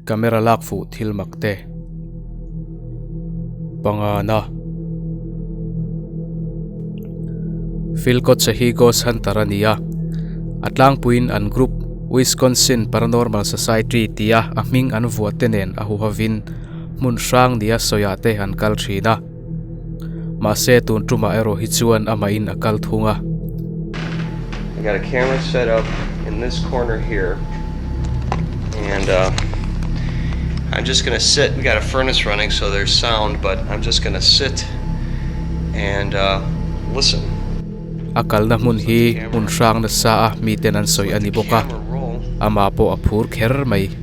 Camera lak fuh thil mak te pangan a. Phil Kotze hi Ghost Hunter a ni a, a tlangpuiin an group Wisconsin Paranormal Society tia a hming an vuahte nen a huhavin hmun hrang nia sawiahte an kal thin a. Mahse tun ṭuma erawh hi chuan a mahin a kal thung a. I got a camera set up in this corner here and uh, I'm just gonna sit, we got a furnace running so there's sound but I'm just gonna sit and uh, listen. A kalna hmun hi hmun hrang nasa a mi ten an sawi a ni bawk a, amah pawh a phur kher mai.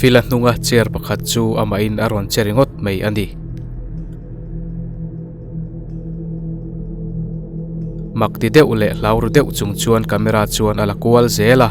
Fila hnunga chair pakhat chu amah in a rawn che ringawt mai a ni mak ti deuh leh hlau ru deuh chung chuan camera chuan a la kual zel a.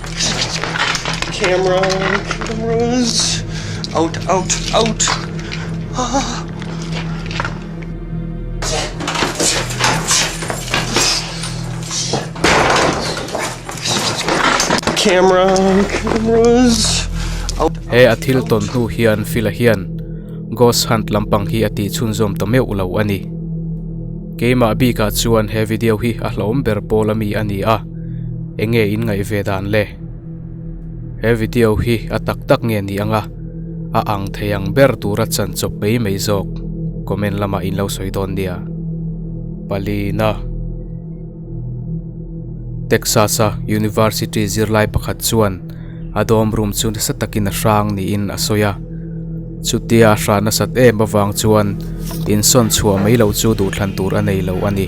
Camera, cameras. Out, out, out. Ah. Camera, cameras. Out. He a thil ton hnu hian fil a hian ghost hunt lampang hi a ti chhunzawm ta meuh lo a ni. Keimah bikah chuan he video hi a hlawm ber pawl ami a ni a, enge in ngaih ve dan le? He video hi a tak tak nge ni anga a ang thei ang ber tura chan chawp mai mai zawk comment lamah in lo sawi dawn nia. Palina, Texas-a University zirlai pakhat chuan, a dawm room chu nasa takin a hrang niin a sawi a chutia a hran nasat em avang chuan insawn chhuah mai loh chu duh thlan tur a nei loh a ni.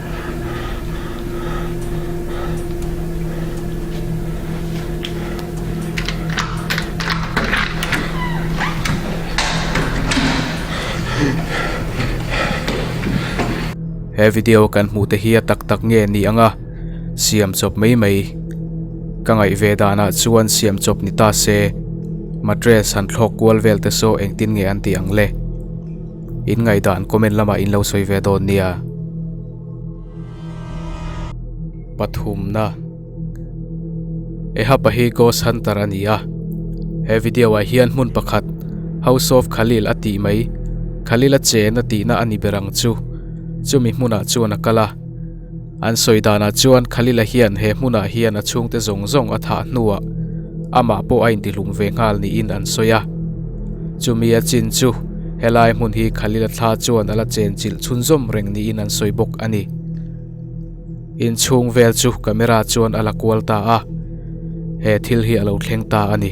he video kan hmuh te hi a tak tak nge ni ang a siam chawp mai mai ka ngaih ve dan ah chuan siam chawp ni ta se mattress han thlawk kual vel te saw engtin nge an tih ang le. in ngaihdan comment lamah in lo sawi ve dawn nia pathumna eha pahi ghost hunter a ni a he video ah hian hmun pakhat house of khalil a tih mai khalil a chen a tihna a ni ber ang chu chumi hmunah chuan a kal a. An sawi danah chuan Khalila hian he hmunah hian a chhungte zawng zawng a thah hnuah amah pawh a intihlum ve nghal niin an sawi a. Chumi a chin chu, helai hmun hi Khalila thla chuan a la chen chilh chhunzawm reng niin an sawi bawk a ni. Inchhung vel chu camera chuan a la kual ta a, he thil hi a lo thleng ta a ni.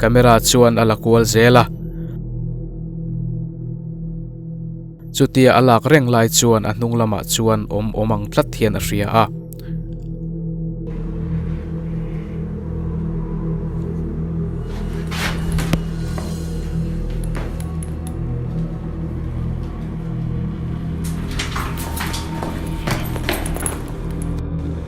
camera chuan a la kual zel a chutia a lak reng lai chuan a hnung lamah chuan awm awm ang tlat hian a hria a.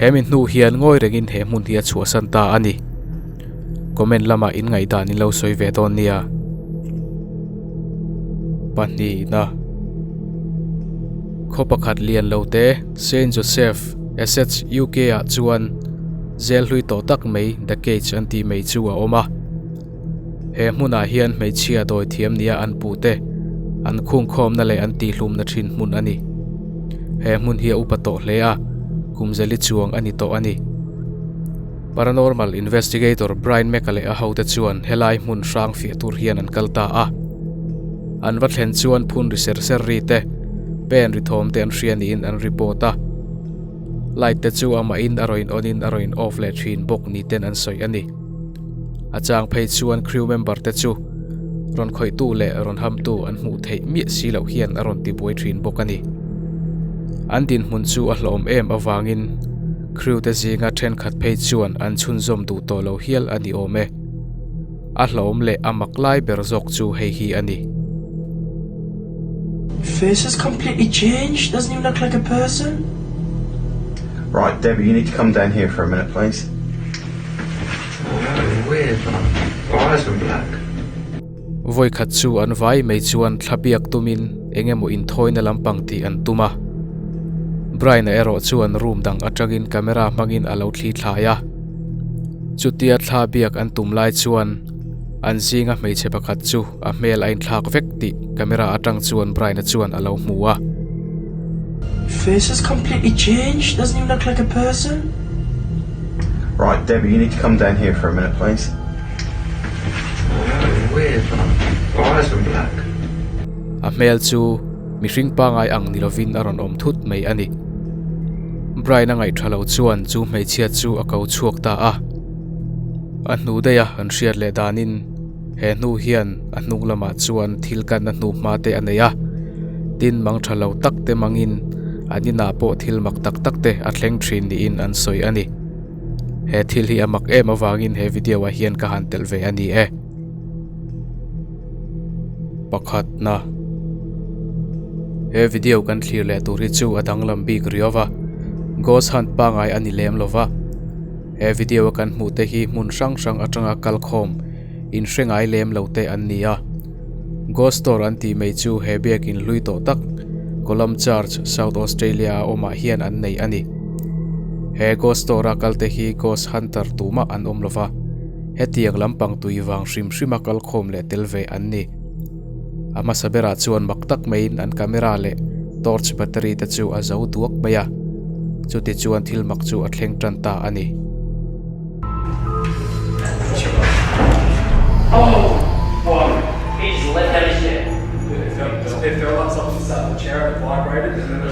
he min hnu hian ngawi reng in he hmun hi a chhuahsan ta a ni comment lamah in ngaihdan in lo sawi ve dawn nia pahnihna khaw pakhat lian lo te saint joseph SHUK ah chuan zêl hlui tawh tak mai the cage an tih mai chu a awm a. He hmunah hian hmeichhia dawi thiam nia an pu te an khung khawmna leh an tihlumna thin hmun a ni. He hmun hi a upa tawh hle a, kumzeli chuang a ni tawh a ni. Paranormal Investigator Brian Meka leh a ho te chuan helai hmun hrang fiah tur hian an kal ta a. An va thlen chuan phun ri ser ser ri te, pen ri thawm te an hria niin an report a. Light te chu amahin a rawn in on in a rawn in off leh thin bawk ni ten an sawi a ni. A chang phei chuan crew member te chu rawn khawihtu leh rawn hamtu an hmuh theih miah si loh hian a rawn ti buai thin bawk a ni. An dinhmun chu a hlawm em avangin crew te zinga thenkhat phei chuan an chhunzawm duh tawh lo hial a ni awm e. A hlawm leh a mak lai ber zawk chu hei hi a ni. Face has completely changed, doesn't even look like a person. Right, Debbie, you need to come down here for a minute, please. Very weird, her eyes went black. Vawikhat chu an vai mai chuan thla biak tumin eng emaw inthawina lampang tih an tum a. Brian-a erawh chu an room dang atangin camera hmangin a lo thli thlai a. Chutia thla biak an tum lai chuan, An zinga hmeichhe pakhat chu a hmel a inthlak vek tih camera atang chuan Brian-a chuan a lo hmu a. Face has completely changed, doesn't even look like a person. Right, Debbie, you need to come down here for a minute, please. Very weird, her eyes went black. A hmel chu mihring pangai ang ni lovin a rawn awm thut mai a ni. Brian-a ngaih tha lo chuan chu hmeichhia chu a ko chhuak ta a. A hnuh daih a kan hriat leh dan in he hnu hian a hnung lam ah chuan thil kan na hnu hma te a nei a tin mang tha lo tak te mang in an inah pawh thil mak tak tak te a thleng thin ni in an sawi a ni he thil hi a mak em avang in he video ah hian ka han telh ve a ni e pakhat na he video kan thlir leh tur hi chu a danglam bik riau va ghost hunt pangai a ni lem lo va. He video a kan hmuh te hi hmun hrang hrang atanga kal khawm in hre ngai lem lo te an ni a. Ghost store an tih mai chu he biakin hlui tawh tak Colum Church, South Australia a awmah hian an neih a ni. He ghost store a kal te hi ghost hunter tumah an awm lo va, hetiang lampang tui vang hrim hrima kal khawm leh tel ve an ni. a hmasa berah chuan mak tak mai in an camera leh torch battery te chu a zo duak mai a chuti chuan thil mak chu a thleng tan ta a ni.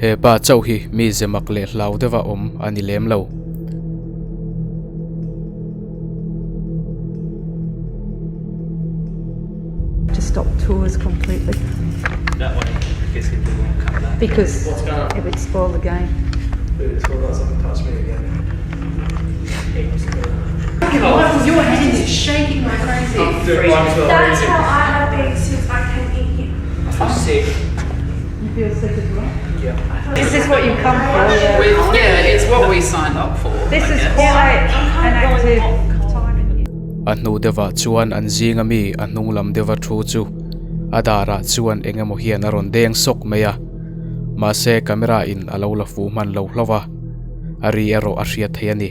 He pa chauh hi mi ze mak leh hlau deuh a awm a ni lem lo. A hnu deuhah chuan an zinga mi a hnung lam deuha thu chu a darah chuan eng emaw hian a rawn deng sawk mai a mahse camera in a lo la fuh hman lo hlauh a. a ri erawh a hriat theih a ni.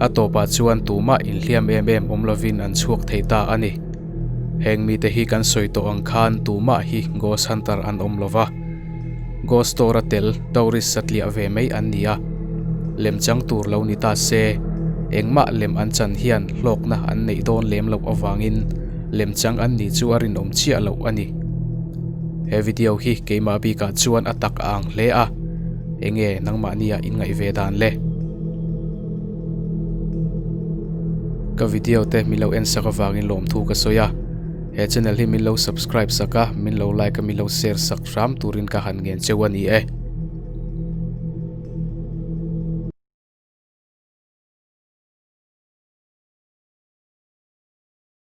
A tawpah chuan tumah inhliam em em awm lovin an chhuak thei ta a ni. Heng mite hi kan sawi tawh ang khan tumah hi ghost hunter an awm lo va. Ghost store a tel tourist a tliah ve mai an ni a. Lem chang tur lo ni ta se, engmah lem an chan hian hlawkna an neih dawn lem loh avangin lem chang an nih chu a rinawm chiah loh a ni. He video hi keimah bikah chuan a tak a ang hle a, eng nge nangmahniah in ngaih ve dan le? Ka video te min lo en sak avangin lawmthu ka sawi a, he channel hi min lo subscribe sak a, min lo like a, min lo share sak hram turin ka han ngen cheu a ni e.